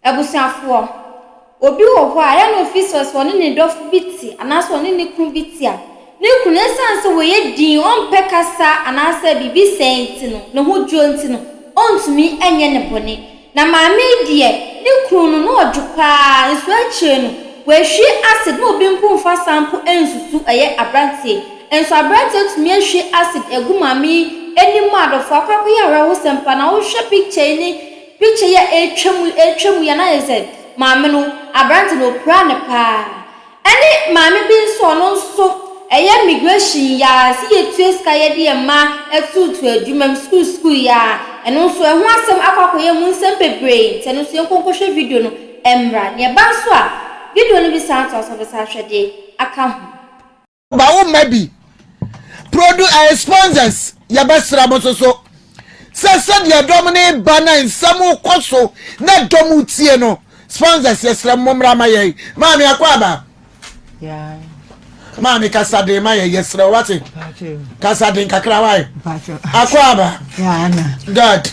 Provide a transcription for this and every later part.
Abusuafoɔ, obi wɔ hɔ a yɛ na ɔfiri sɛ ɔne ne dɔfo bi te anaasɛ ɔne ne kunu bi te a, ne kunu ɛsiane sɛ ɔyɛ dinn, ɔmpɛ kasa anaasɛ biribi sɛɛ nti no, ne ho dwo nti no, ɔntumi nyɛ no bɔne. Na maame yi deɛ, ne kunu no, na ɔdwo pa ara, nso akyire no, wahwie acid, na obi mpo mfa saa mpo nsusu ɛyɛ aberanteɛ. Nso aberanteɛ atumi ahwie acid agu maame yi anim a, adɔfoɔ akɔ akɔyɛ awerɛhosɛm pa ara. Na wohwɛ picture yi ne. Picture yi a ɛretwa mu ɛretwa mu yi a na ayɛ sɛ maame no aberante no ɔpira no paa ɛne maame bi nso a ɔno nso ɛyɛ migration yi ara sɛ yɛtua sika yɛde yɛn mma atuutu adwuma mu sukuu sukuu yi ara ɛno nso ɛho asɛm akɔ akɔyɛ mu nsɛm bebree nti ɛno nso yɛnkɔ nkɔhwɛ video no mmra na ɛba nso a video no bɛsan atoa so wobɛsan ahwɛ de aka ho. ba wo mma bi produ ɛyɛ eh, sponsors yɛbɛsra mo nso so sɛ sɛdeɛ dɔm ne ba na nsɛm kɔ so na dɔm tie no sponsors yɛsrɛ mo mmra ma yɛn maame akɔ aba maame kasaden ma yɛ yɛsrɛ wo wate kasaden kakra wae akɔ aba dad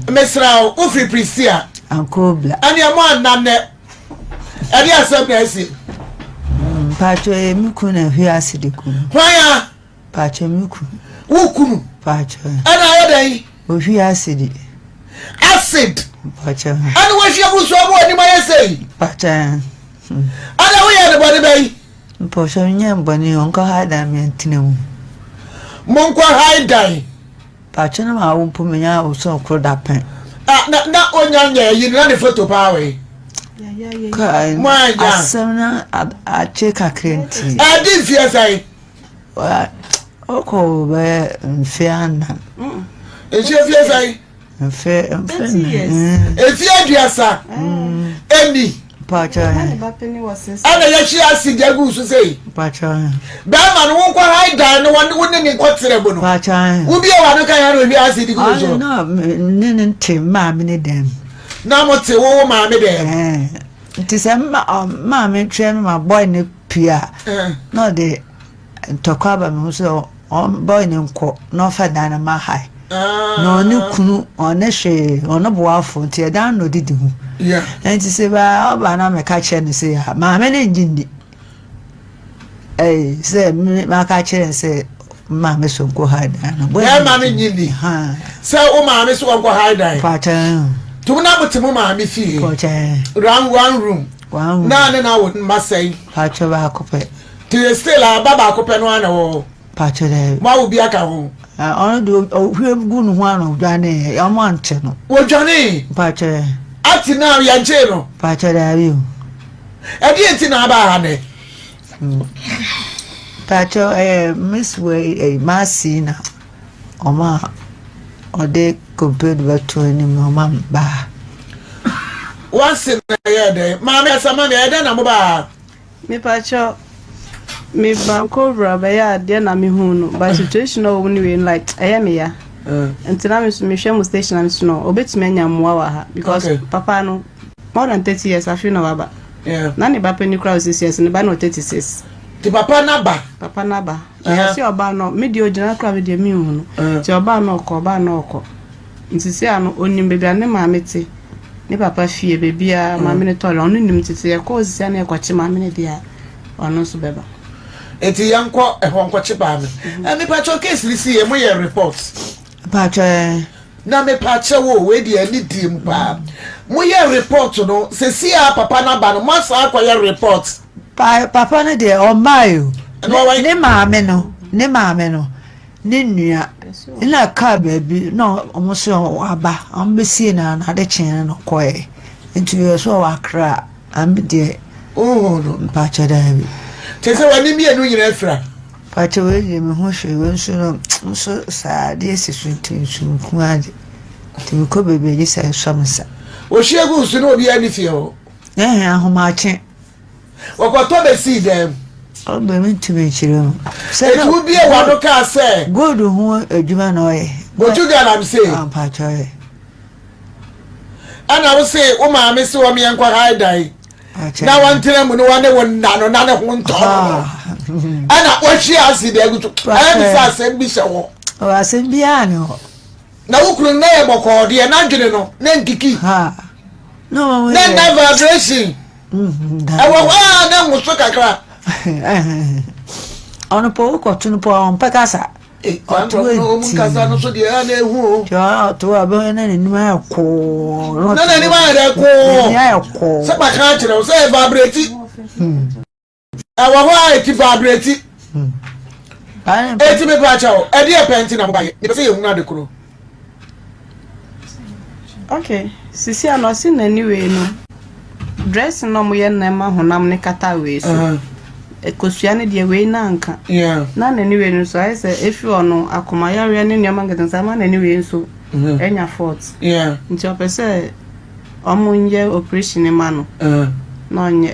mesrɛ wo wofiri prisia ɛneɛ mo annanɛ ɛde asɛm na ɛsi. Mm, paakyɛ yɛ me kunu na ɛhwe ase de kunu. hwan a. paakyɛ me kunu. wo kunu. paakyɛ. ɛna ayɛ dɛ yi. ohwi ase de. acid. paakyɛ. ɛna wɔhwi abusu ɔmo anim ayɛ sɛ yi. paakyɛ. ɛna woyɛ ne bɔne bɛ yi. mpɔsɔ nyɛ mbɔne ɔnkɔ ha dan mi ntina mu. mo nkɔ ha dan. Paakye no maa wo mpo menya wo sɛ ɔkoro dapɛn. Ah na na onya nyɛ yi na ne photo paa wɔ yi. Kai mo anya. Asɛm na akye kakra nti. Eh di mfie sɛn. Wa ɔkɔ bɛ mfie anan. Nhyɛ fie sɛn. Mfie mfie. Efie aduasa. Eni. ɛna yɛhye ase gya gu so sei bɛrima no wonkɔ hae dan no wo ne ne nkɔterɛ mu no wobie wa no ka yɛ na ɔhwie ase de gu no so ne ne nte maame ne dɛm na mote wo wo maame dɛm nti sɛ maame twɛ me ma bɔe no pii a na ɔde Ntɔkwa aba me ho sɛ ɔmba ɔne nkɔ na ɔmfa dan no mma ha na ɔne kunu ɔne hwee ɔne boafo nti ɛdan na ɔdidi ho nti sɛ baa ɔba na meka kyerɛ no sɛ maame no ngye nni sɛ maka kyerɛ no sɛ maame so nkɔ ha dan no bɛrima no ngye nni sɛ wo maame so wɔnkɔ ha dan to na mote mo maame fie round one room na ne na wo mma sɛn Te still a ba baako pɛ no ara na ɛwɔ hɔ. Pakyɛ dɛ. Mo awo bi aka ho. Ɔno de ohwie gu ne ho a na odwanee. Wɔn ante no. Wodwanee. Pakyɛ. Ati na yɛnkyee no. Pakyɛ daabi o. Ɛdeɛ nti na aba ha nɛ. Pakyɛ ɛyɛ miss wei ɛyɛ maasi na wɔn a ɔde komped bɛto anim na wɔn a baa. Wansi na ɛyɛ dɛ maame asama mi ɛyɛ dɛ na mo baa. Mepakyɛw me banku owura bɛyɛ adeɛ na me hu no but situation a wɔn wei no like ɛyɛ me ya nti na me so me hwɛ mo station na me so no obetumi anya mmoa wɔ ha because okay. papa no more than thirty years afi na waba yeah. na ne ba panyin kura wɔ six years ne ba na thirty six. ti papa naba. papa naba ɛyɛ si ɔba no me deɛ ogyina kura me deɛ mi nhu no ti ɔba no ɔkɔ ɔba no ɔkɔ. Nti seaa no onim baabi a ne maame te ne papa fie baabiaa maame no tɔre no ɔno nim nti sɛ yɛkɔ hɔ sisi a na yɛkɔkye maame no deɛ a ɔno nso bɛba. Nti yɛnkɔ hɔ nkɔkye maame. Ɛɛ mepakyɛw case no si yɛ mo yɛ report. Mpakyɛw ɛɛ. Na mepakyɛw o wei deɛ ɛne die mu paa mo yɛ report no sesi a papa no aba no mo asan akɔ yɛ report. Pa papa no deɛ ɔmmae o ne maame no ne maame no ne nua na kaa baabi na wɔn sɛ waba wɔn bɛsie na na ade kyee no na ɔkɔɛ nti yɛ sɛ ɔwɔ akra ame deɛ oh no mpakyɛ daa bi kyɛ sɛ wɔne mmienu nyinaa afira mpakyɛ wei deɛ me ho hwee wei nso no nso saa adeɛ si so nti nso nku ade nti mekɔ baabi agye sɛ ɛsɔ me sa wɔhyia gu nso na obiara ne fie hɔ ɛhɛ ahomakye Wɔkɔtɔ bɛsii dan mu. Ɔbɛ me nti me nkyerɛ mu. Eti wo bie w'ano kaa sɛ. Gold ho adwuma na ɔyɛ. Otu galamsey. Ah mpakyɛ ɔyɛ. Ɛna wo se wo maame se wɔn yɛ nkɔ hae dan. Na wɔn tena mu no wɔn ne wo nna no na ne ho ntɔ no no. Ah. Ɛna wɔhwie acid agu so. Ɛyɛ mi sɛ asɛm bi hyɛ hɔ. Ɔwɔ asɛm biara ne hɔ. Na wo kunu na yɛ bɔkɔɔ deɛ n'adwene no na nkiki. Ha. Na wɔn yɛ. Na nna vibration. ɛwɔ hɔ ara na mu so kakra. ɔno pɔ wokɔ to no pɔ ɔmpɛ kasa ɔtoɔ nti ɔtoɔ a bɛhɔ na n'anim ayɛ kɔɔ na n'anim ayɛ dɛ kɔɔ sɛ baka akyerɛ wo sɛ ɛvabrɛti ɛwɔ hɔ a eti fa abere ti eti mi pa akyɛw ɛde yɛ pɛn ti na mo ba yɛ mipɛ sɛ yɛ hunu ade koro. okay sisi a na ɔsi n'ani wei no dressing na ɔmo yɛ nneɛma honam ne kata wei so ekosua ne deɛ wei na nka na n'ani wei no so ayɛ sɛ efi ɔno akomayareɛ ne nneɛma nkete nsa ama n'ani wei nso ɛnya fɔt nti ɔpɛ sɛ ɔmo nyɛ operation ma no na ɔnyɛ.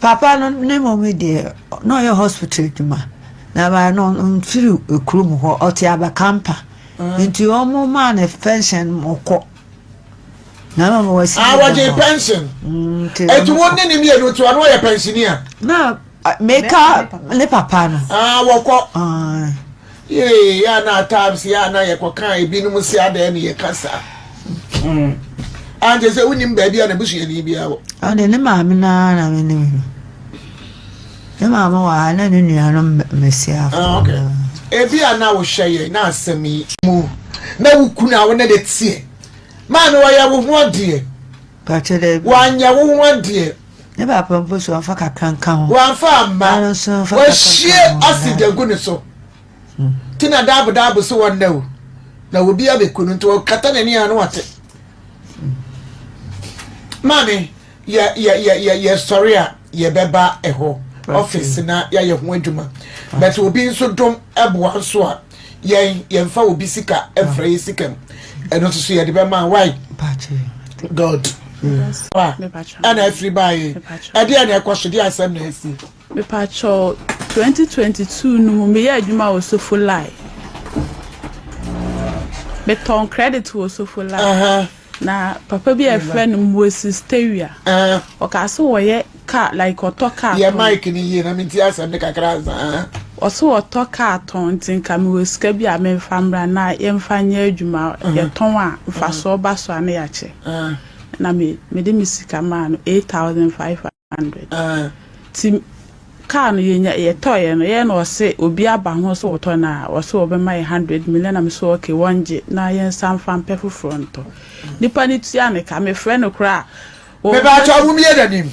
Papa no ne mmom deɛ na ɔyɛ hospital adwuma na ɛma no mfiri kurom hɔ ɔte abakampa nti wɔn maa no pension ɔkɔ na ama ma wasi ah wɔgye pension ɛti wɔn ne ne mmienu nti wɔn yɛ pensionia na meka ne papa no ah wɔkɔ. Yee a na at times yɛ a na yɛkɔka ebinom se adɛn ne yɛka saa mm. ankyɛ sɛ wonim baabi a n'abusuani biara wɔ ɔde ne maame no ara na menim no ne maame wɔ ha na ne nuanom mmasiafo ah, okay. ebi a na wohwɛ yɛ na asɛm yi mu na wo kunu a wo ne de teɛ maame wɔyɛ wo ho adeɛ Pakyɛ dɛ bi. Wɔanyɛ wo ho adeɛ. Ne baako mpo so wɔamfa kakra nka ho. Wɔamfa amma. Ɔno nso mfa kakra nka ho. Wɔahwie acid agu ne so. Nti na daabo daabo se wɔnnɛ o. Na obi abɛku no nti ɔkata n'ani a na wate. Maame, yɛ yɛ yɛ yɛ yɛsɔre a. yɛbɛba ɛhɔ office na yɛayɛ ho adwuma but obi nso dom ɛboa nso a yɛn yɛmfa obi sika ɛmfra yɛ sika mu ɛno nso so yɛde bɛma why god ɛna afiri baayɛ ɛdeɛ na ɛkɔ so deɛ asɛm na asi mepakyɛ 2022 no mu meyɛ adwuma wɔ sofo lai metɔn credit wɔ sofo lai Na papa bi a yɛfrɛ no Moise Stewia, ɔkaa sɛ wɔyɛ kaa like ɔtɔ kaa Yɛ tɔn. mic no yie na menti asɛm no kakra ansa. Ɔse wɔtɔ kaa tɔn nti nka mewɔ sika bi a memfa mmra na yɛmfa nyɛ adwuma. Yɛtɔn a mfasoɔ ba so a na yɛakyɛ. Ɛna me mede me sika maa no eight thousand five hundred. hundred. Ɛɛ ti kaa no yɛnya yɛtɔeɛ no yɛn na ɔse obi aba ho sɛ ɔtɔ no a ɔse wɔbɛma yɛ hundred million na me so okay wɔngye na yɛnsa mfa mpɛ foforɔ ntɔ nipa no tua ne ka mefrɛ no koraa a ɔ Mepaakyɛw momie n'anim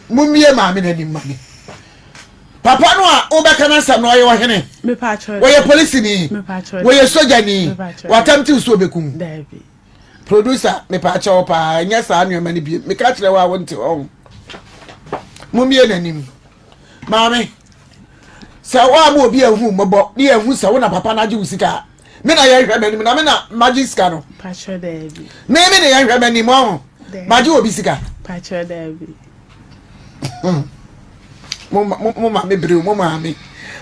momie maame no anim ma me papa no a wobɛka n'asɛm no ɔyɛ ɔhene Mepaakyɛw ɔyɛ polisini mepaakyɛw ɔyɛ sogyani mepaakyɛw wɔ attempting sɛ ɔbɛku wo daabi Producer, mepaakyɛ wo paa, nyɛ saa nnoɔma no biom. Meka kyerɛ wo a wonte hɔ ho. Mommie n'anim. Maame, sɛ wo a mo obi ahu mmɔbɔ ne yɛahu sɛ wo na papa no agye wo sika a, me na yɛnhwɛ m'anim na me na magye sika no. Pakyɛ daabi. Me me na yɛnhwɛ m'anim ɔho. Magye obi sika. Pakyɛ daabi. Mo ma me bere o, mo maame.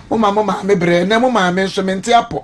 Mo ma mo maame bere, ɛnɛ mo maame nso mente apɔ.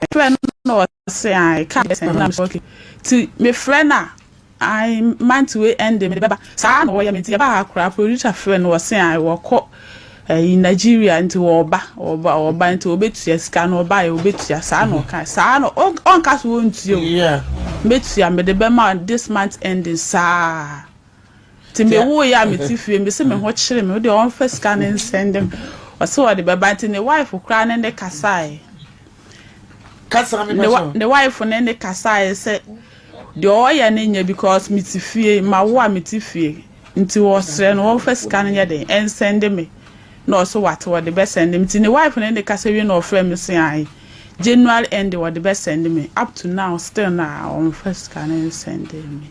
mefrɛ no na ɔse ae ka bɛsɛ na mesɛ okay ti mefrɛ no a ae month wei ɛnde mede bɛba saa na wɔyɛ me nti yɛbaa ha koraa producer frɛ no ɔse ae wɔkɔ ɛyi Nigeria nti wɔba wɔba wɔba nti wɔbɛtua sika no ɔba yɛ wɔbɛtua saa na ɔka saa na ɔnka so wɔntua o mɛtua mede bɛma this month ending saa. Nti me wooyɛ a me te fie mese me ho kyere me wodeɛ ɔmfa sika no nsɛnde me ɔse ɔde bɛba nti ne wife koraa ne ne kasae ne wife ne ne kasae sɛ deɛ ɔyɛ no nyɛ because me te fie ma wo a me te fie nti ɔsrɛ no ɔmfa sika no nyɛ den ɛnsɛnde me na ɔse wate ɔde bɛsɛnde me nti ne wife ne ne kasa wie na ɔfrɛ me se ae January end ɔde bɛsɛnde me up to now still na ɔmfa sika no nsɛnde me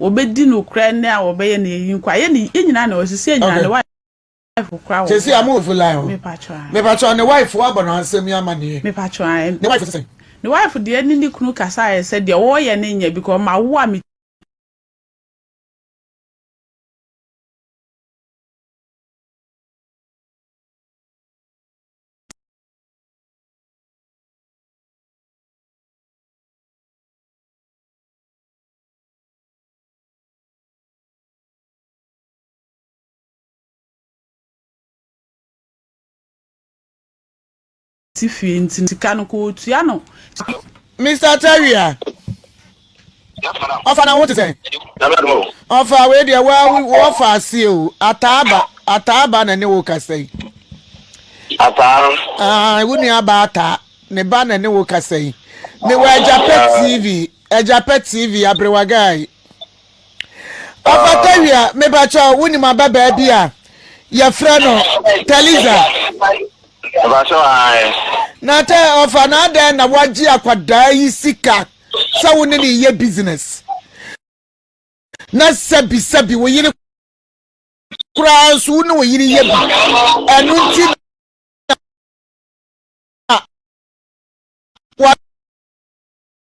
Wɔbɛdi no kura ne a wɔbɛyɛ no yɛyi nkwa yɛ ne yɛ nyinaa na wɔsi sɛ nyinaa ne wife kura wɔn sɛsi amu ofu line o mepatwa ne wife wa bɔ no asɛm yi ama ne yɛ mepatwa ne wife sɛ ne wife deɛ ne ne kunu kasa ayɛ sɛ deɛ wɔyɛ ne nyɛ bi kɔ ma wo a me te fie nti sika no kɔ ɔtua no Mr. Terry a ɔfa na ho te sɛ ɔfa wei deɛ wɔfa ase o ataaba ataaba na ne wo kasa yi ataa wo nua ba ataa ne ba na ne wo kasa yi mewɔ agyapɛ tv Agyapɛ TV abrewa guy. Ɔfa Tawia mepakyɛ wo nim ababaa bi a yɛfrɛ no Taliza. Mepakyɛ ae. Na tɛ ɔfa na adɛn na wagye akwadaa yi sika sɛ wo ne ne yɛ business na sɛbi sɛbi wo yere koraa nso wo ne wo yere yɛ bi ɛno nti na wa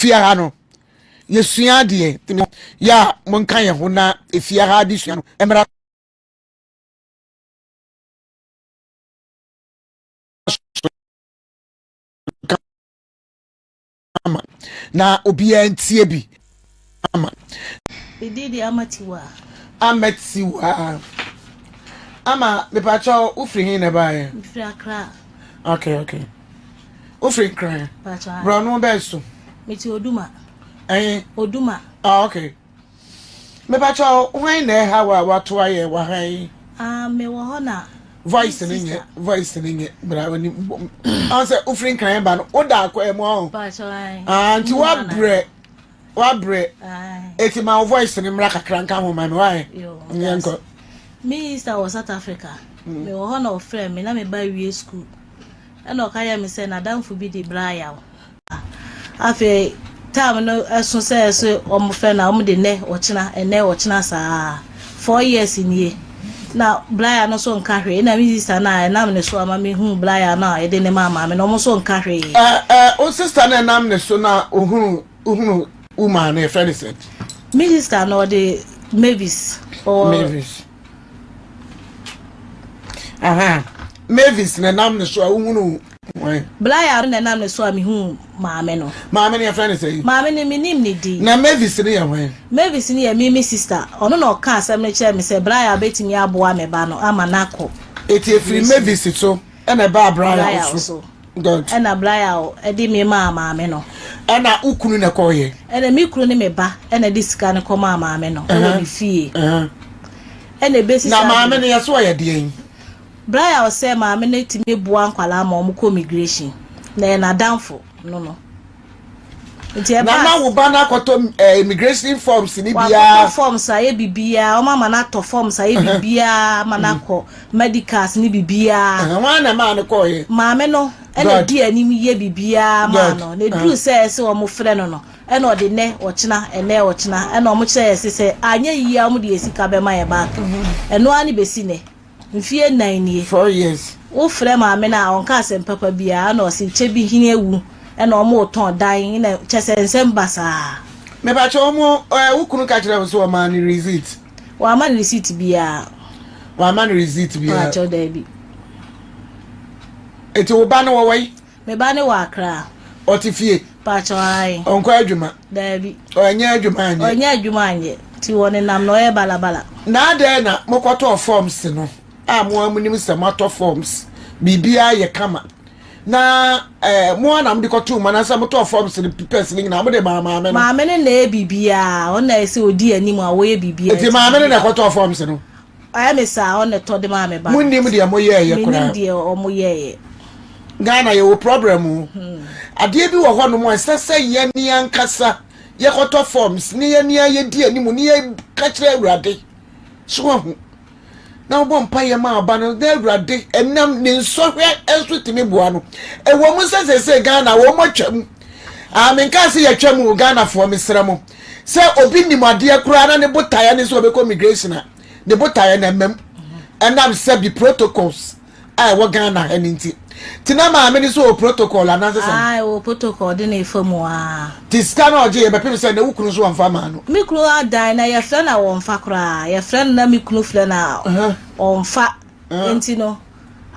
Fie ha no, yɛsua adeɛ. Yɛ a monka yɛn ho na efie ha adesua no mmra so kama na obiara ntie bi ama. Me din de Ama Tiwaa. Ama Tiwaa. Ama, mepakyɛw, wofiri he na ɛbaeɛ? Mefiri Accra. Okay, okay. Wofiri Nkran. Borɔno bɛn so? Mete Oduma. Ɛn? Oduma. Ah, okay. Mepakyɛ hwan na ɛha wa wato ayɛ wɔ ha yi? Ah, mewɔ hɔ na. Voice ne nyɛ voice ne nyɛ bra wani ɔn sɛ wofiri Nkran ba no woda akɔ ɛmu ɔn. Pakyɛ ɔn. Ah, nti wabrɛ. Wabrɛ. Eti ma wo voice no mmra kakra nka ho ma me wae. Yɛ nkɔ. Me Easter wɔ South Africa. Mm. Me wɔ hɔ na ɔfrɛ me na me ba wie school. Ɛna ɔka yɛ me sɛ n'adamfo bi de bra yaw. Afei time no ɛso sɛ ɛso ɔmo fɛ na ɔmo de nɛ ɔkyena ɛnɛ ɔkyena saa. four years nie na Blaya no nso nka hwee na me sister no a ɛnam ne so a ma mehuu Blaya no a ɛde ne maa maame no ɔmo nso nka hwee. Ɛɛ ɛɛ wo sister no a ɛnam ne so na ohunu ohunu wo maa no yɛfrɛ no sɛn? Me sister no ɔde Mavis ɔwɔ. Mavis ahaa Mavis na ɛnam ne so a wohunu Blair na ɛnam ne so a mihuu maame no. Maame no, yɛfrɛ no sɛn? Maame no, minnim ne din. Na Mavis no yɛ hwan? Mavis no yɛ Mimi sista. Ɔno na ɔkaa asɛm no kyerɛɛ me sɛ Blair betumi aboa me ba no ama no akɔ. Enti efiri Mavis so na ɛbaa Blair so. Good. Ɛnna Blair de me maa maame no. Ɛnna wo kunu na ɛkɔeɛ? Ɛnna me kunu ne me ba na ɛde sika no kɔmaa maame no wɔ ne fie. Ɛnna ebesi saa bere. Na maame no, yɛse ɔyɛ deɛn? Bere a ɔsɛ maame no tumi boa nkwadaa ma wɔn kɔ migirehyin na ɛyɛ n'adamfo no no. Nti ɛbaa. Na ma wo ba no akɔtɔ ɛɛ migirehyin fɔms ne biara. Wakɔtɔ fɔms ayɛ bibiara, wɔn ama no atɔ fɔms ayɛ bibiara ama no akɔ mɛdikas ne bibiara. Ɛhɛn, wɔn ana maa no kɔɔ yɛ. Maame no ɛna di anim yɛ bibiara maa no, na eduru sɛ ɛsɛ wɔn frɛ no no, ɛna ɔde nɛ ɔkyena, ɛnɛ ɔkyena, ɛna wɔn kyerɛ yɛ se sɛ anyɛ yie a wɔn de yɛ sika bɛma yɛ back. Ɛno ara ne besi nɛ. Mfie nnan nie. Four years. Wo frɛ maame no a ɔnka asɛm papa biaa ɛna ɔse kyɛ bi hene awu ɛna ɔmo retɔn dan ɛna kyɛsɛ nsɛm ba saa. Mepakyɛ ɔmo ɛɛ wo kunu ka kyerɛ wo sɛ ɔmaa no receipt? Wamma no receipt biaa. Wamma no receipt biaa. Paakyɛw daabi. Nti wo ba no ɔwɔ he? Me ba no wɔ Accra. Ɔte fie? Pakyɛw, ae. Ɔnkɔ adwuma? Daabi. Ɔnyɛ adwuma anyɛ? Ɔnyɛ adwuma anyɛ, nti ɔnenam na ɔyɛ balabala. Na adɛn na mokɔtɔɔ forms no a mo ara monim sɛ moatɔ forms, biribiara yɛ kama, na eh, mo ara na mode kɔtoo mu, anaasɛ motɔɔ forms no papers no nyinaa mode maa maame no? Maame no na ɛyɛ biribiara, ɔno na ɛsɛ ɔdi anim a wɔyɛ biribiara. Nti maame no na ɛkɔtɔɔ forms no? Ayɛ me saa ɔn na tɔ de maa me ba no. Mo nnim deɛ mo yɛɛyɛ koraa. Menim deɛ ɔmo yɛɛyɛ. Ghana yɛwɔ problem o. Hmm. Adeɛ bi wɔ hɔ nom a ɛsɛ sɛ yɛne ankasa yɛkɔtɔ forms ne yɛne a yɛdi anim ne yɛka kyerɛ Awurade. So ahu. Na wobɔ mpa yɛ ma aba no na Awurade ɛnam ne nsɔhwɛ nso tumi boa no. Ɛwɔ mu sɛ sɛ sɛ Ghana wɔn atwam. Ah, menkaa sɛ yɛatwam o Ghanafoɔ mesrɛ mo. Sɛ obi nim adeɛ koraa na ne botaeɛ ne sɛ ɔbɛkɔ migration a, ne botaeɛ no mmam ɛnam sɛ bi protocols a ɛwɔ Ghana ha no nti. Nti na maame no so wɔ protocol anaasɛ sɛ? Ae, wɔ protocol de na ɛfa mu aa. Nti sika no a ɔgyeeɛ bɛpem sɛ na wo kunu nso wamfa mmaa no? Me kunu adan na yɛfrɛ no a ɔmfa koraa. Yɛfrɛ no na me kunu frɛ no a ɔmfa. Nti no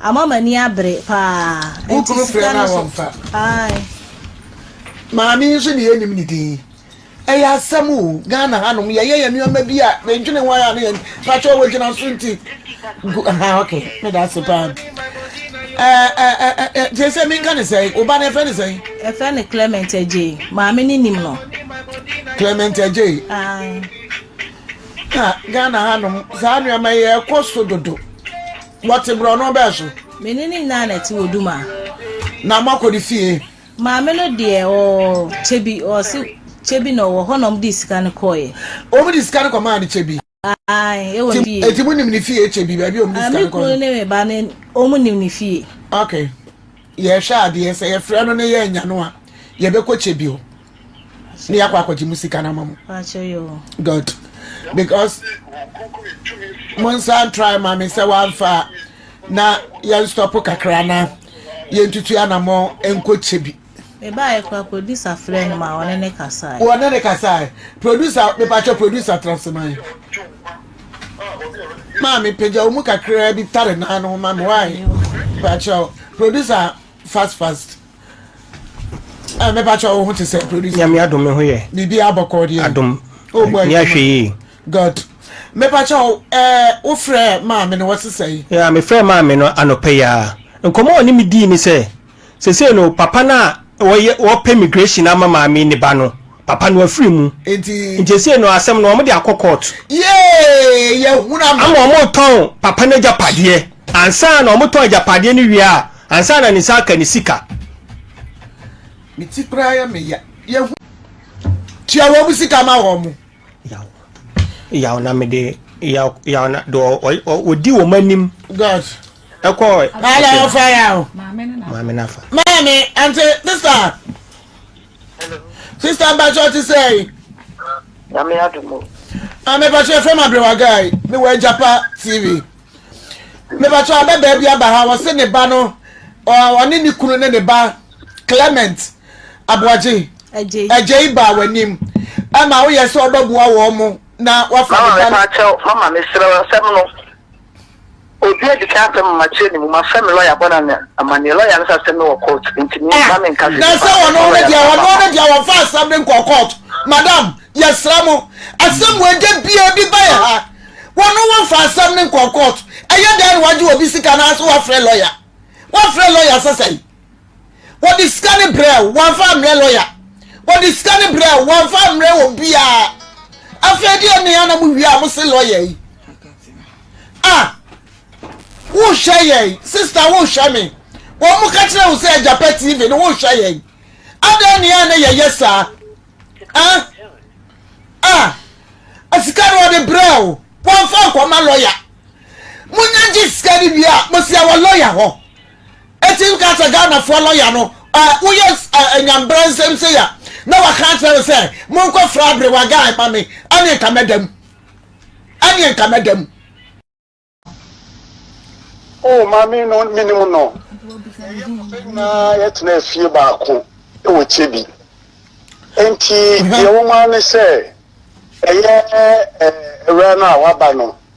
ama m'ani abere paa. Book no frɛ no a wɔmfa. Ae. Maame yi nso deɛ yɛnnim ne din. Ɛyɛ asɛm o, Ghana hanom yɛyɛ yɛn nneɛma bi a medwene ho ara na yɛn patrɔ wɔ gyina so nti. Ha ok, meda ase paa. Te sɛ menka ne sɛn, wo ba no ɛfrɛ ne sɛn? Ɛfrɛ ne Clement Agyei, maame no nim no. Clement Agyei. Ae. ka Ghana hanom saa nneɛma yi ɛkɔ so dodo. Wɔte borɔno bɛn so? Me ne ne nyinaa na ɛte wɔ Duma. Na moakɔ ne fie? Maame no deɛ ɔɔ Kyebi, ɔse Kyebi na ɔwɔ hɔ na wɔn de sika no kɔɔeɛ. Wɔn de sika no kɔ maa no Kyebi? Ae, ɛwɔ ne fie. Eti mo nim ne fie Kyebi baabi a wɔn de sika no kɔ no? Me kunu ne me ba ne wɔn nim ne fie. Okay. yɛhwɛ adeɛ sɛ yɛfrɛ no ne yɛ anya no a yɛbɛkɔ kyɛ bio ne yɛakɔ akɔgye mu sika no ama mu good because mo nsa ntrae ma me sɛ wamfa na yɛnstɔpo kakra na yɛntutu anamɔ nkɔkyɛ bi mebaeɛ kora producer frɛ no ma ɔne ne kasae ɔne ne kasae producer mepatwɛ producer trasema yi Maame pagya wo mu kakraa bi tare naa no ho ma me wae pakyɛw producer fast fast ɛ eh, me pakyɛw wo ho te sɛ producer nyame adom me ho yɛ biribi abɔkɔ deɛ adom o mu ayɛ ahwɛ yi god me pakyɛw ɛ eh, wo frɛ maame no wɔsesɛ yi ya me frɛ maame no anɔpɛ ya nkɔmɔ ɔne me dii ne sɛ Sesei no papa no a ɔyɛ ɔɔpɛ immigration ama maame ne ba no, papa no afiri mu. Nti. Nti sesei no asɛm no wɔn de akɔ court. Yee! Yɛhunu ama. Ama wɔn retɔn papa no agyapadeɛ. Ansa na wɔn tɔn agyapadeɛ no wie a, ansa na ne nsa aka ne sika. Me ti koraa yɛ me ya. Yɛhunu. Tua wɔn sika ma wɔn. Yaw, yaw na mede yaw yaw na de ɔdi wɔn anim. God. Ɛkɔ. Maame na afa yaw. Maame na afa. Maame ante sista. Sista mpatsɔ ti sɛ yi. Nyame adumu. Maame mpatsɔ efra ma abiriwa gaa yi mi wɔ Ejapa TV. Mpatsɔ abɛ baabi aba ha wɔsi ne ba no ɔne ne kunu ne ne ba Clement. aboagye agya yi baa w'anim ɛma woyɛ sɛ ɔbɛboa wɔn mo na wafa ne ba no. mama mepakyɛw mama mesrɛ wo asɛm no obi adi kan afɛ mama kyerɛ ne mu mafɛ me lɔya bɔ na ne amanneɛ lɔya no sɛ asɛm no wɔ court nti me ma menka sɛ na sɛ wɔn no deɛ wɔn no deɛ wɔn fa asɛm no nkɔ court madam yɛsrɛ mo asɛm wɔ ɛdɛ bia bi ba yɛ ha wɔn no wɔn fa asɛm no nkɔ court ɛyɛ dɛn na wagye obi sika na ase wafrɛ lɔya wafrɛ lɔya sɛ sɛn wɔde sika no brɛ wo wɔamfa ammrɛ lɔya wɔde sika no brɛ wo wɔamfa ammrɛ wɔ biara afei deɛ nea na mo wie a mo se lɔya yi a wohwɛ yɛn sista wohwɛ me wɔn mo ka kyerɛ wo sɛ agyapa tv no wohwɛ yɛn adɛn nea na yɛyɛ saa a a asika no wɔde brɛ wo wɔamfa nkɔma lɔya monya gye sika no wie a mosia wɔ lɔya hɔ Eti nka sɛ Ghanafoɔ lɔya no eh, woyɛ eh, nyambrɛ nsɛm sei a, na waka akyerɛ no sɛ monkɔ fra abrewa guy ma me, ɛneɛ nka mɛda mu. Ɛneɛ nka mɛda mu. O oh, maame no menim no. Ɛyɛ papa nyinaa yɛtena afie baako wɔ Kyebi. Enti deɛ wɔn ara ne sɛ ɛyɛ ɛwura no a waba no.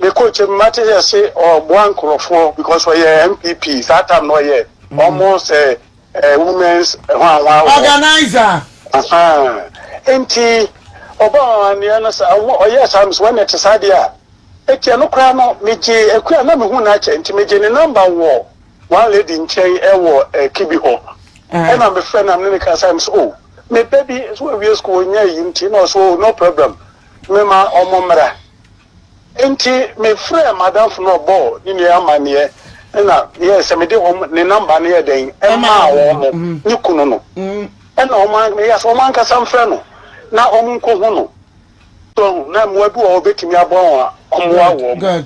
Me coach me ma te yɛ se ɔboa nkorɔfoɔ because ɔyɛ NPP saa time no ɔyɛ ɔmo sɛ eh women's hwan hwan wɔ hɔ. Organizer. Ahaa nti ɔbɔɔ amaneɛ no saa ɔmo ɔyɛɛ saa me se wɛne ɛte saa deɛ a ɛteɛ no koraa no me gye Akua a na me hu no akyɛ nti me gye ne number wɔ one lady nkyɛn ɛwɔ eh Kibi hɔ ɛna me frɛ no a me ne no kasa me se oh me ba bi so wawie school ɔnya ayi nti na ɔse oh no problem me ma ɔmo mmra. Enti mefrɛɛ m'adamfo no na ɔbɔɔ ne nua yi amanneɛ na meyɛɛ sɛ mede wɔn ne number no yɛɛ dɛn maa wɔn no ne kunu no na wɔn an meyɛɛ sɛ wɔn ankasa mfrɛ no na wɔn nkɔhu no so ahu na mmoa bi wɔ hɔ a obetumi aboa wɔn a wɔn mmoa wɔ mu.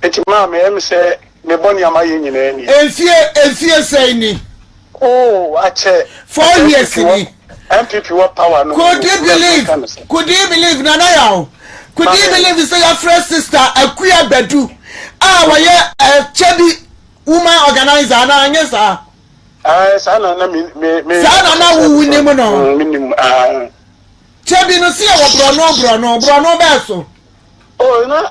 Enti maa me ɛm sɛ me bɔ nea mayɛ nyinaa nie. Mfie mfie sɛn ni. Oo akyɛ. Four years ni. NPP wɔ power no mu no. Could he believe could he believe Nana Yaw could he believe sɛ yɛafrɛ sister Akua Badu a ɔyɛ ɛkyɛ bi woman organiser anaa anyɛ saa. Ae saa na na me me me. Saa na na wo wonim no. Me nim ae. Kyɛ bi no sɛ yɛwɔ borɔno borɔno borɔno bɛɛ so. Oh na.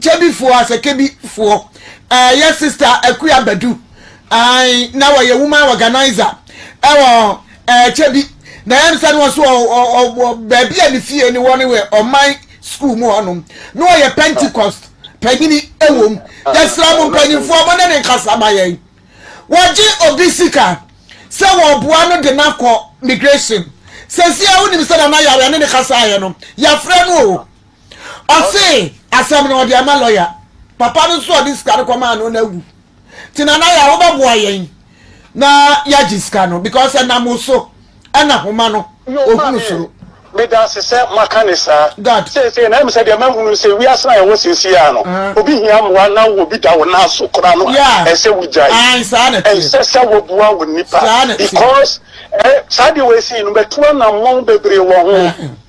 Kebbifoɔ a sɛ Kebbifoɔ ɛɛ yɛ sista Akua Badu ae na wɔyɛ woman organizer ɛwɔ ɛɛ Kebbi na ɛm sɛ no wɔso ɔ ɔ ɔ ɔ baabi a ne fie ne wɔ ne wɔ ɔman school mu hɔ nom na wɔyɛ Pentecost panyini ɛwom yɛsrɛ mo mpanyinfoɔ mo ne ne nkasa ma yɛn wɔgye obi sika sɛ wɔboa no de no akɔ migration sɛsi a wonim sɛ nana yare ne ne kasaeɛ no yɛafrɛ no o Ɔsee asɛm no ɔde ama lɔya. Papa no nso a ɔde sika no kɔmaa no no awu. Nti Nana Yaa wobɛboa yɛn na yɛagye sika no because ɛnam wo so na Homa no ɔhunu soro. Medase sɛ moaka ne saa. Seesei na ɛm sɛ deɛ mahunu sɛ wiase no a yɛwɔ seesei ara no, obi hia mmoa na wo obi da wo nan so koraa no a, ɛsɛ wogyae. Ɛnsɛ sɛ wobua wo nnipa because saa deɛ wei sei no matu anammɔn bebree wɔ ho.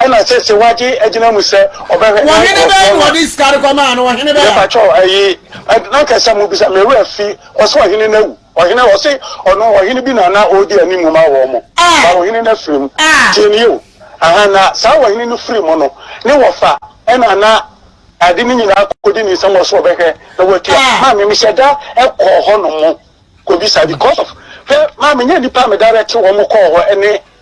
Ɛna sese wagye agyina mu sɛ ɔbɛhwɛ na nkurɔfoɔ no. Ɔhene bɛn na ɔde sika no kɔmaa no? Ɔhene bɛn? Mepakyɛ wo, ɛyi, na nka sɛ mobisa me wura fi, ɔse ɔhene no awu. Ɔhene, ɔse ɔno, ɔhene bi na na ɔredi animu ma wɔn. Ba ɔhene no afiri mu. Tie nie o, ahaa, na saa ɔhene no firi mu no, ne wɔfa ɛna na ade no nyinaa kɔdi ne nsam, ɔse ɔbɛhwɛ na watua. Maame, mehyɛ da kɔɔ hɔ nom kɔbisa because of, hwɛ, maame, nyɛ nnipa a meda rɛte wɔn kɔɔ hɔ ne.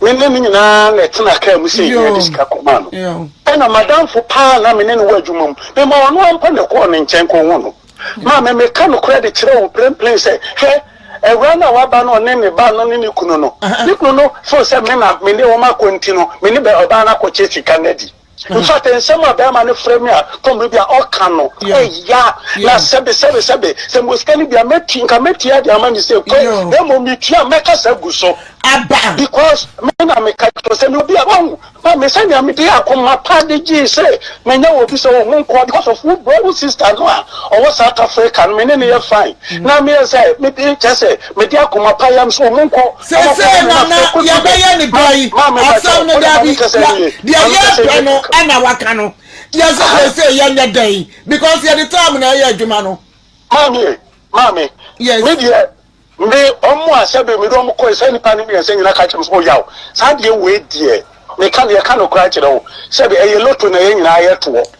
Me ne no nyinaa na ɛtenaa kaa mu sei na yɛde sika kɔmaa no. Ɛnna m'adamfo paa a na me ne no wɔ adwuma mu, memaa ɔno ara mpo na ɛkɔɔ ne nkyɛn kɔhuu no. Maame, meka nokorɛ de kyerɛ wo mprempren sɛ, hwɛ! Awuraa no a waba no, ɔne ne ba no ne ne kunu no. Ne kunu no foo sɛ me na me ne wɔn akɔ nti no, me ne ɔbaa no akɔkyɛ sika no adi. In fact, nsɛm a barima no frɛ me a kɔ mmere bi a ɔka no ɛya, na sɛbe sɛbe sɛbe, sɛ mewɔ sika no bi a mɛtua, nka mɛtua de ama no sɛ kɔ, na mmom metua a mɛkasa agu so, because me na meka kyerɛ wo sɛ meyɛ obi a, wahu, ma me sɛnea mede akoma pa de gyee sɛ manya wɔ obi sɛ wo ho nkɔ, because of wo bro, wo sister no a ɔwɔ South Africa no, me ne no yɛ fine, na meyɛ sɛ, mede kyerɛ sɛ Mede akoma pa yam sɛ wɔnkɔ na wɔnkɔbɔ Seesei me na na m'akokoduru no. yɛbɛyɛ ne Ma, dɔn yi. ma me ba Asɛm kyɛw. no, Wo ne daabi, maame kasa yɛ, nie. deɛ Maame kasa yɛ yɛrepɛ nie no kankan. na waka no. Yɛse Aha. seesei yɛnyɛ dɛn? Because yɛde time na ɛyɛ adwuma no. Maame e, maame, Yes. me deɛ, me, wɔn a sɛbe mede wɔn kɔe, saa nnipa no mmiɛnsa nyinaa ka kyerɛɛ me sɛ, oh yaw, saa adeɛ wei deɛ, meka, yɛka nokorɛ akyerɛ wo, sɛbe ɛyɛ lotto na yɛn nyinaa yɛtoɔ.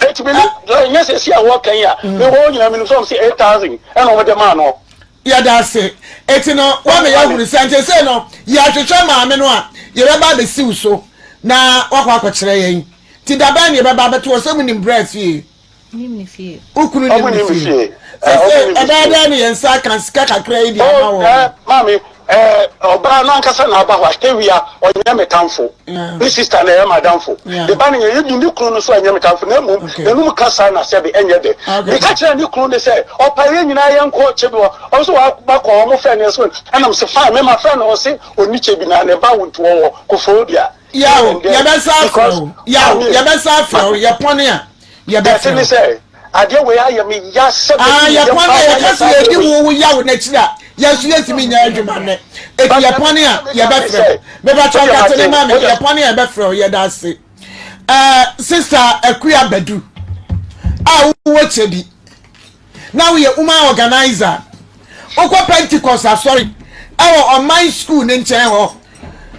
Eti me na nyɛ sɛ si a wɔka yi a mm. me wɔ nyinaa menim sɛ ɔm sɛ eight thousand ɛna ɔmde maa no yɛda ase eti no wama yɛahunu sɛ nti sɛ no yɛahwehwɛ maame no a yɛbɛba abɛsiw so na wakɔ akɔkyerɛ yɛn ti dabɛn na yɛbɛba abɛto ɔsɛ mu nim brɛ fie wokunu nim ne fie sɛ sɛ ɛbɛyɛ dɛn ne yɛn nsa aka sika kakra yi de ama wɔ maame Eh ɔbaa no ankasa na aba hɔ a Tawia ɔnyɛ me tamfo ne sister na ɛyɛ m'adamfo me ba no yɛyɛ bi ne kunu no nso ɛnyɛ me tamfo na mmom yɛnum kasa na sɛbe ɛnyɛ dɛ meka kyerɛɛ ne kunu no sɛ ɔpa yɛn nyinaa yɛnkɔ kyebi hɔ ɔno nso waba kɔ hɔ mo frɛ no ɛsɛ ɛna mese fine me ma frɛ no ɔse ɔni kyebi na ne ba wo nti wɔwɔ kofodua yaw yɛbɛsa afrɛ wo yaw yɛbɛsa afrɛ wo yɛpɔne a Yɛbɛfrɛ wo. Adeɛ wei ayɛ me ya sɛ mɛdi ah, me yam paa na yɛka sɛ yɛdi wo wo yaw n'akyiri a yɛn nso yɛntumi nyɛ adwuma nnɛ eti yɛ pɔn a yɛbɛfrɛ wo mebɛtɔ nkate ne ma me yɛ pɔn a yɛbɛfrɛ wo yɛda ase ɛɛ sista akuya badu a wowɔ kyɛ bi na woyɛ woman organizer wokɔ pentecost asɔre ɛwɔ ɔman school ne nkyɛn hɔ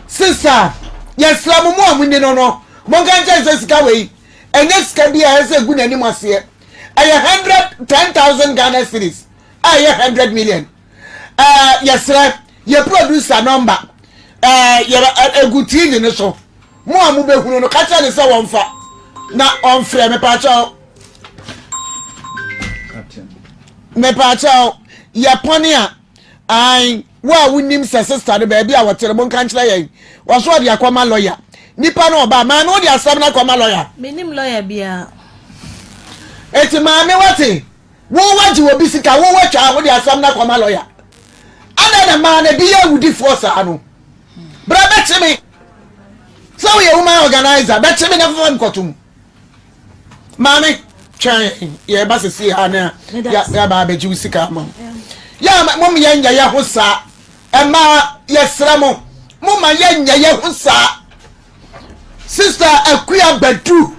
sista yɛsrɛ mo mo a mo ni no no monka nkyɛn sɛ sika wei ɛnyɛ sika bi a ɛsɛ sɛ egu n'anim aseɛ. Ɛyɛ hundred ten thousand Ghana cedis a ɛyɛ hundred million. Ɛɛ yɛsrɛ yɛ producer nɔmba ɛɛ yɛ egu TV no so. Mo a mo bɛ hunu no, ka kyerɛ ne sɛ wɔnfa na ɔnfrɛ me paakyɛw. Me paakyɛw yɛ pɔn a. ae wo a wonim sɛ sista no baabi a wɔte no monka nkyerɛ yɛn wɔso ɔde akɔma lɔya nipa no ɔbaa maame wode asɛm no akɔma lɔya menim lɔya biaa ɛti maame wate wowagye wɔ bi sika wowatwa wode asɛm no akɔma lɔya adɛn na maa na bi yɛ awudifoɔ saa no berɛ bɛkye me sɛ woyɛ woman organizer bɛkye me na fafa mkɔtom Maame, twɛn yɛ ba sisi ha na yɛ ba abɛgye wo sika ama wo. Yɛ mo yɛ nyɛ yɛ ho saa. Ɛma yɛsrɛ mo, mo ma yɛ nyɛ yɛ ho saa. Sister Akuya Badu,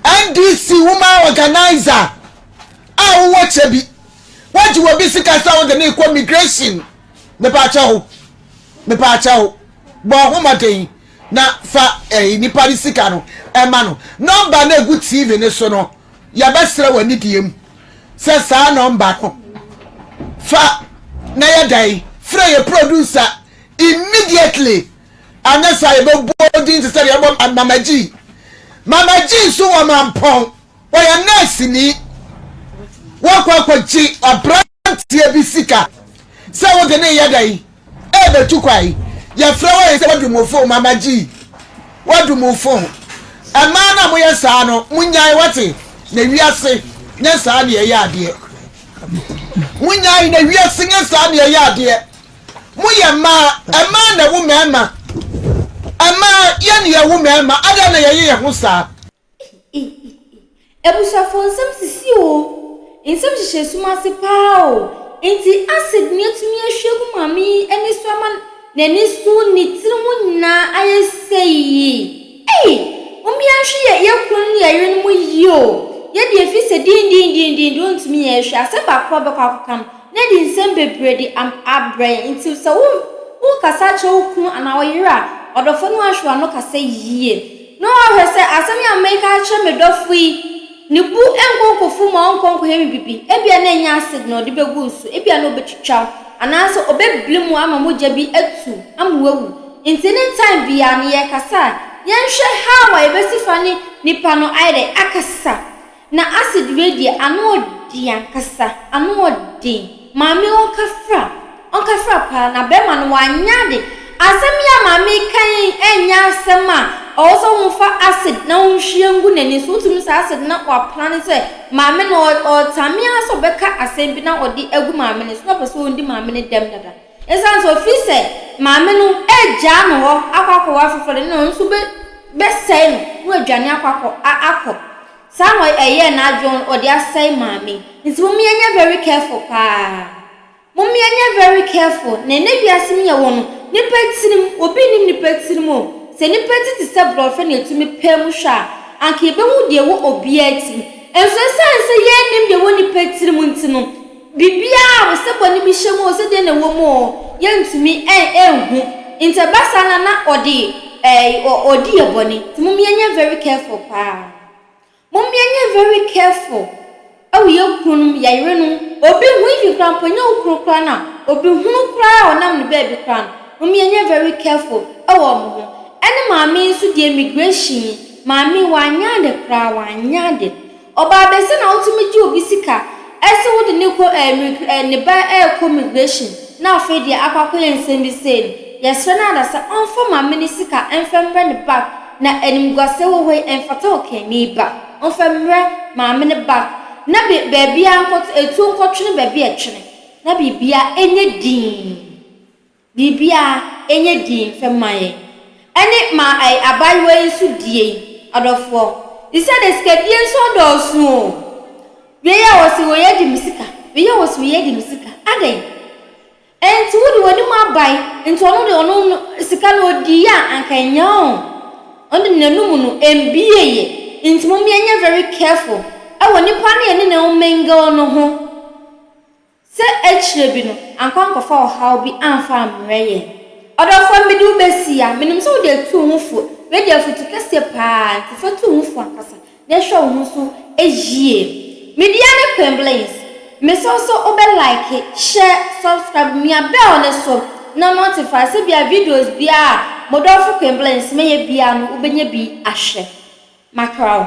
NDC woman organizer a wowɔ kyɛ bi, wagye wɔ bi sika sɛ wode ne kɔ migration. Mepaakyɛ ho, mepaakyɛ ho, bɔ ho mmɔden. Na fa eh, nipa no sika no ma no. Nɔmba no a ɛgu TV no so no, yɛbɛsrɛ w'anidie mu sɛ saa nɔmba no fa na yɛ dɛn? Frɛ yɛ producer immediately. Anyɛ saa yɛbɛbɔ wo din te sɛ deɛ yɛbɔ Mama G. Mama G nso wɔ Mampɔn, ɔyɛ nɛɛseni. Wakɔ akɔgye ɔbra. aberanteɛ bi sika sɛ wode ne yɛ dɛn ɛbɛtu kwan yɛfrɛ wɔ yɛ sɛ wadu mo fon mama gyi wadu mo fon ɛmaa no a moyɛ saa no monyae wate na wiase nyɛ saa ne ɛyɛ adeɛ monyae na wiase nyɛ saa ne ɛyɛ adeɛ moyɛ mmaa ɛmaa na wo mmarima ɛmaa yɛne yɛwo mmarima adɛn na yɛyɛ yɛ ho saa Eeii Abusuafoɔ nsɛm sisi oo, nsɛm hyehyɛ sum ase paa oo, enti acid ni atumi ahwie agu maame yi ani so ama n'ani so, ne tiri ho nyinaa ayɛ seii. Ei! Mommea nhwe yɛ yɛ kununom ne yɛ yerenom yie oo, yɛ deɛ ɛfiri sɛ din din din din deɛ ɔntumi yɛ hwee, asɛm baako a ɔbɛkɔ akɔka no na adi nsɛm bebree de am abrɛ yɛn, enti sɛ wo wo rekasa akyerɛ wo kunu anaa wo yere a, ɔdɔfoɔ no ahwɛ w'ano kasa yie. Na ɔahwɛ sɛ asɛm yi a mereka akyerɛ me dɔfo yi, ne bo nnkɔ nkɔfuw mu a ɔnnkɔ nkɔyɛ me biribi. Ebia na enye acid na ɔde begu wo so, ebia na obetwitwa wo, anaasɛ obebli mu ama mogya bi atu ama woawu. Enti ne time biara no, yɛrekasa a, yɛnhwɛ how a yebesi fa ne nipa no ayɛ dɛn akasa. Na acid wei deɛ ano ɔden ankasa ano ɔden maame ɔnkafra ɔnkafra paa na bɛɛma no wanyɛ ade asɛm yi a maame reka yi ɛnyɛ asɛm a ɔwɔ sɛ wo fa acid na wo nhwie ngu n'ani so wotumi saa acid na wa plane sɛ maame no ɔtame ara sɛ ɔbɛka asɛm bi na ɔde agu maame no so na ɔpɛ sɛ ɔdi maame no dɛm dada Esiane sɛ ofii sɛ maame no regyaa no hɔ akɔ akɔwo afoforo de, na ɔno nso bɛ, bɛsɛe no na wadwane akɔ akɔ, a, akɔ. Saa na ɔy, ɛyɛɛ n'adwene, ɔn, ɔde asɛe maame. Nti mom yɛnyɛ very careful paa. Mom yɛnyɛ very careful. Na ɛnnɛ wiase mu yɛwɔ no, nnipa tirim, obi nnim nnipa tirim o. Sɛ nnipa ti te sɛ brɔfɛ na yɛtumi pae mu hwɛ a, anka yɛbɛhu deɛ ɛwɔ obiara tirim. Nso esiane sɛ yɛnnim deɛ ɛwɔ nnipa tirim nti no, Biribiara o, sɛ bɔne bi hyɛ mu o, sɛ deɛn na ɛwɔ mu o, yɛntumi nhu. Nti ɛba saa na na ɔde ɔɔdi yɛ bɔne. Nti mom yɛnyɛ very careful paa. Mom yɛnyɛ very careful ɛwɔ yɛ kununom, yɛ yerenom. Obi hu even koraa mpo, ɛnyɛ wo kunu koraa no a, obi hunu koraa a ɔnam no baabi koraa no, mom yɛnyɛ very careful ɛwɔ wɔn ho. Ɛne maame yi nso deɛ immigration yi, maame yi wanyɛ ade koraa, wanyɛ ade. Ɔbaa bɛsɛ na wotumi gye obi sika se wode no kɔ ɛmigr ɛ ne ba ɛɛkɔ migration na afei deɛ akɔ akɔyɛ nsɛm bi sei no yɛsrɛ no ada sɛ ɔnfa maame no sika ɛnfa mmrɛ no back na animguaseɛ wɔ hɔ yi ɛnfata ɔkani ba ɔnfa mmrɛ maame no back na be baabiaa nkɔto atuo nkɔtwene baabi a ɛtwene na biribiaa ɛnyɛ dinn. Biribi a ɛnyɛ dii mfɛ mma yɛn. Ɛne ma ai abaayewa yi nso di ei adɔfoɔ. Isa de sikadie nso dɔɔso o. Wei a ɔse wei adi me sika, wei a ɔse wei adi me sika, adɛn? Ɛnti wo de w'anim abae, nti ɔno de ɔno no sika no ɔdiiɛ a anka ɛnyɛ o. Ɔno de n'anum no ɛmbiieɛ. Nti mom yɛnyɛ very careful ɛwɔ nipa no yɛne no mingle no ho. Sɛ akyire bi no, ankɔ ankɔfa ɔhaw bi amfa ammrɛ yɛn. Ɔdɔfoɔ, mede wo bɛsi yi a, menim sɛ wode atu wo ho fo. Wei deɛ afotu kɛseɛ pa ara, nti fa tu wo ho fo ankasa na hwɛ wo ho so yie. Me deɛ ne Queenblings. Mesrɛ wo sɛ wobɛ like, share, subscribe, mia bell no so na notify sɛ bia videos biara a mo dɔfo Queenblings mɛyɛ biara no wobɛnya bi ahwɛ. Makra wo.